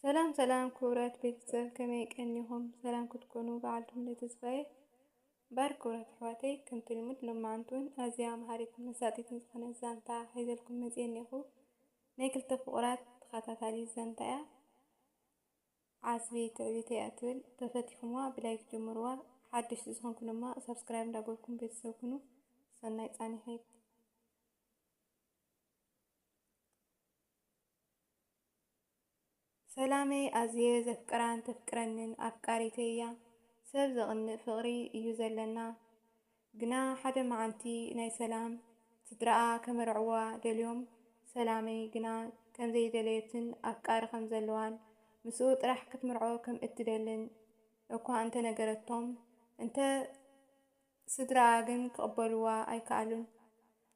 ሰላም ሰላም ክቡራት ቤተሰብ ከመይ ቀኒኹም? ሰላም ክትኮኑ በዓልቱም ንተስፋዬ ባር ክቡራት ኣሕዋተይ ከምቲ ልሙድ ሎማዓንቱን ኣዝያ መሃሪትን መሳጢትን ዝኾነ ዛንታ ሒዘልኩም መፅየ እኒኹ ናይ ክልተ ፍቑራት ተኸታታሊ ዛንታ እያ ዓስቢ ትዕቢት እያ ትብል ተፈቲኹምዋ ብላይክ ጀምርዋ ሓደሽቲ ዝኾንኩ ድማ ሳብስክራይብ እንዳገበርኩም ቤተሰብ ኩኑ ሰናይ ፃኒሒት ሰላመይ ኣዝየ ዘፍቅራን ተፍቅረንን ኣፍቃሪተይ'ያ ሰብ ዘቅንእ ፍቅሪ እዩ ዘለና ግና ሓደ መዓልቲ ናይ ሰላም ስድራኣ ከመርዕዋ ደልዮም ሰላመይ ግና ከምዘይደለየትን ኣፍቃሪ ከምዘለዋን ምስኡ ጥራሕ ክትምርዖ ከምእትደልን እኳ እንተነገረቶም እንተ ስድራኣ ግን ክቕበሉዋ ኣይከኣሉን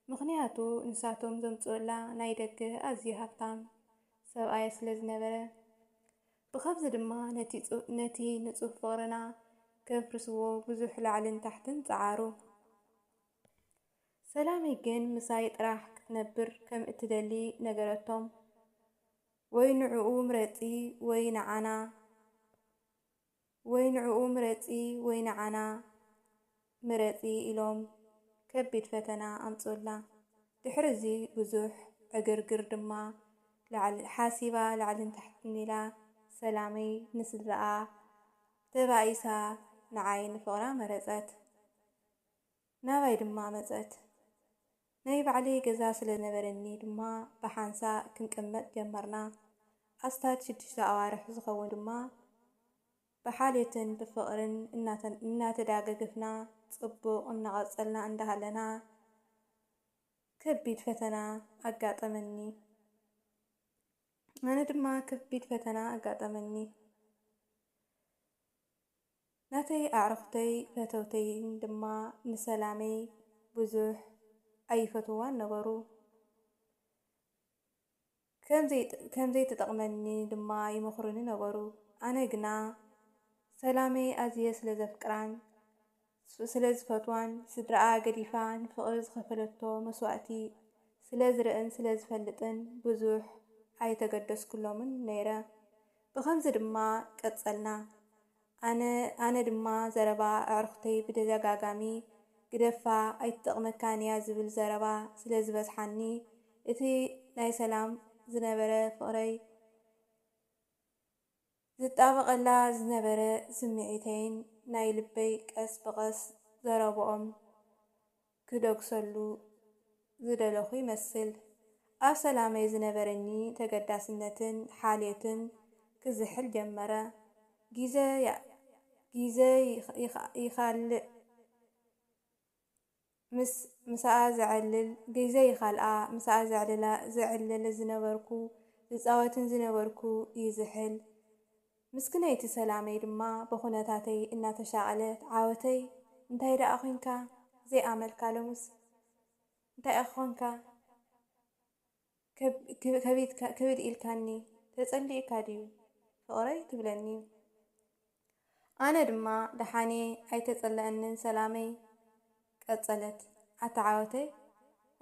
ምኽንያቱ ንሳቶም ዘምጽኡላ ናይ ደገ ኣዝዩ ሃብታም ሰብኣያ ስለ ዝነበረ። ብኸምዚ ድማ ነቲ ንጹህ ፍቕርና ከፍርስዎ ብዙሕ ላዕልን ታሕትን ጸዓሩ። ሰላመይ ግን ምሳይ ጥራሕ ክትነብር ከም እትደሊ ነገረቶም። ወይ ንዕኡ ምረጺ ወይ ንዓና ወይ ንዕኡ ምረጺ ወይ ንዓና ምረጺ ኢሎም ከቢድ ፈተና ኣምጽኡላ። ድሕሪ እዚ ብዙሕ ዕግርግር ድማ ላዕልን ሓሲባ ላዕልን ታሕትን ኢላ ሰላመይ ንስድራኣ ተባኢሳ ንዓይ ንፍቕራ መረጸት። ናባይ ድማ መጸት። ናይ ባዕለይ ገዛ ስለ ዝነበረኒ ድማ ብሓንሳእ ክንቅመጥ ጀመርና። ኣስታት ሽዱሽተ ኣዋርሕ ዝኸውን ድማ ብሓልዮትን ብፍቕርን እናተዳጋገፍና ጽቡቕ እናቐጸልና እንዳሃለና ከቢድ ፈተና ኣጋጠመኒ። ኣነ ድማ ከቢድ ፈተና ኣጋጠመኒ። ናተይ ኣዕሩኽተይ ፈተውተይን ድማ ንሰላመይ ብዙሕ ኣይፈትውዋን ነበሩ። ከም ዘይትጠቕመኒ ድማ ይመኽሩኒ ነበሩ። ኣነ ግና ሰላመይ ኣዝየ ስለ ዘፍቅራን ስለ ዝፈትዋን፣ ስድራኣ ገዲፋ ንፍቕሪ ዝኸፈለቶ መስዋእቲ ስለ ዝርእን ስለ ዝፈልጥን ብዙሕ ኣይተገደስኩሎምን ነይረ። ብኸምዚ ድማ ቀጸልና። ኣነ ኣነ ድማ ዘረባ ኣዕሩኽተይ ብተደጋጋሚ ግደፋ ኣይትጠቕመካን እያ ዝብል ዘረባ ስለ ዝበዝሓኒ እቲ ናይ ሰላም ዝነበረ ፍቕረይ ዝጣበቐላ ዝነበረ ስምዒተይን ናይ ልበይ ቀስ ብቐስ ዘረብኦም ክደግሰሉ ዝደለኹ ይመስል። ኣብ ሰላመይ ዝነበረኒ ተገዳስነትን ሓልዮትን ክዝሕል ጀመረ። ጊዘ ጊዘ ይኻልእ ምስ ምሳኣ ዘዕልል ጊዘ ይኻልኣ ምሳኣ ዘዕልላ ዝዕልል ዝነበርኩ ዝጻወትን ዝነበርኩ ይዝሕል። ምስክነይቲ ሰላመይ ድማ ብኩነታተይ እናተሻቐለት ዓወተይ እንታይ ደኣ ኮንካ ዘይ ኣመልካ ሎምስ እንታይ እኺ ኮንካ ከቢድካ ክብድ ኢልካኒ ተጸሊእካ ድዩ ፍቕረይ ትብለኒ ኣነ ድማ ደሓንየ ኣይተጸለኣንን ሰላመይ ቀጸለት ኣታ ዓወተይ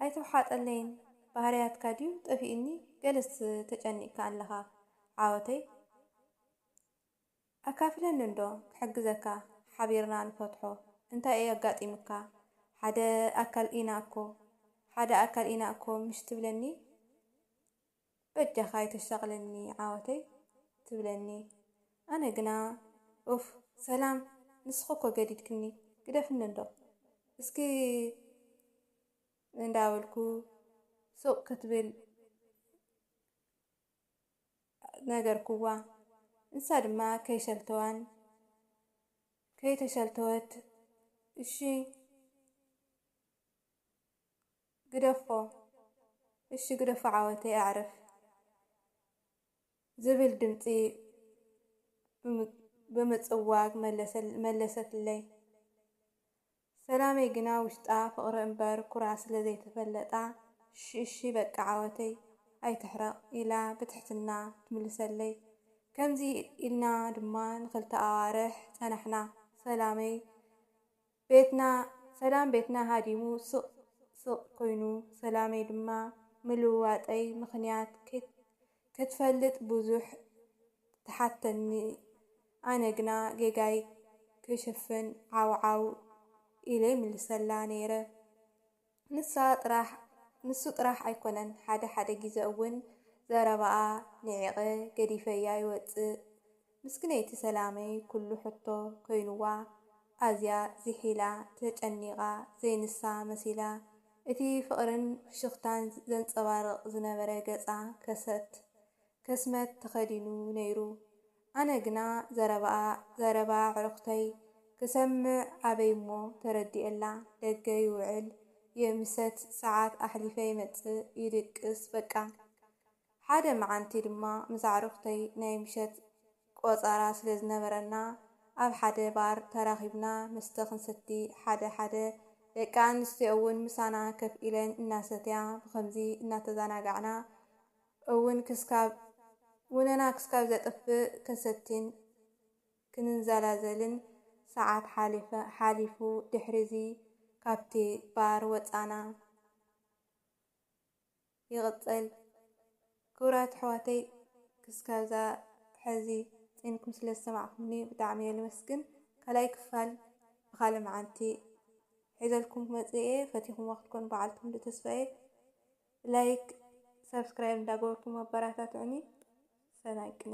ኣይትውሓጠለይን ባህርያትካ ድዩ ጠፊኡኒ ገለስ ተጨኒቅካ ኣለኻ ዓወተይ ኣካፍለኒ እንዶ ክሕግዘካ ሓቢርና ንፈትሖ እንታይ እዩ ኣጋጢሙካ ሓደ ኣካል ኢና እኮ ሓደ ኣካል ኢና እኮ ምሽ ትብለኒ በጃኻ ኣይተሻቕለኒ ዓወተይ ትብለኒ ኣነ ግና ኡፍ። ሰላም ንስኺ እኮ ገዲድክኒ ግደፍኒ እንዶ እስኪ እንዳበልኩ ሱቕ ክትብል ነገርኩዋ ንሳ ድማ ከይሰልተዋን ከይተሰልተወት እሺ ግደፎ እሺ ግደፎ ዓወተይ ኣዕርፍ ዝብል ድምጺ ብምጽዋግ መለሰትለይ። ሰላመይ ግና ውሽጣ ፍቕሪ እምበር ኩራ ስለ ዘይተፈለጣ እሺ እሺ በቃ ዓወተይ ኣይትሕረቕ ኢላ ብትሕትና ትምልሰለይ። ከምዚ ኢልና ድማ ንኽልተ ኣዋርሕ ጸናሕና። ሰላመይ። ቤትና ሰላም ቤትና ሃዲሙ ስቕ ስቕ ኮይኑ ሰላመይ ድማ ምልውዋጠይ ምኽንያት ክትፈልጥ ብዙሕ ትሓተኒ ኣነ ግና ጌጋይ ክሽፍን ዓው ዓው ኢለ ይምልሰላ ነይረ። ንሳ ጥራሕ ንሱ ጥራሕ ኣይኮነን ሓደ ሓደ ጊዘ እውን ዘረባኣ ኒዒቀ ገዲፈያ ይወፅእ ምስክነይቲ ሰላመይ ኩሉ ሕቶ ኮይኑዋ ኣዝያ ዚሒላ ተጨኒቃ ዘይንሳ መሲላ እቲ ፍቅርን ፍሽክታን ዘንፀባርቅ ዝነበረ ገፃ ከሰት ከስመት ተከዲኑ ነይሩ ኣነ ግና ዘረባኣ ዘረባ ኣዕሩኽተይ ክሰምዕ ኣበይ'ሞ ተረዲኤላ ደገ ይውዕል ይምሰት ሰዓት ኣሕሊፈ ይመጽእ ይድቅስ በቃ። ሓደ መዓንቲ ድማ ምስ ኣዕሩኽተይ ናይ ምሸት ቆጸራ ስለ ዝነበረና ኣብ ሓደ ባር ተራኺብና መስተ ክንሰቲ ሓደ ሓደ ደቂ ኣንስትዮ'ውን ምሳና ከፍ ኢለን እናሰትያ ብኸምዚ እናተዛናጋዕና እውን ክስካብ ውነና ክስካብ ዘጥፍእ ከሰቲን ክንንዘላዘልን ሰዓት ሓሊፈ ሓሊፉ ድሕሪዚ ካብቲ ባር ወጻና ይቅጽል ክብራት ኣሕዋተይ ክስካብዛ ሐዚ ጺንኩም ስለ ዝሰማዕኩምኒ ብጣዕሚ እየ ልመስግን ካልኣይ ክፋል ብካልእ መዓንቲ ሒዘልኩም ክመጽእ እየ ፈቲኩሞ ክትኮኑ በዓልቲ ሙሉእ ተስፋ እየ። ላይክ ሳብስክራይብ እንዳገበርኩም ኣበራታትዑኒ ሰናይ ቅነ።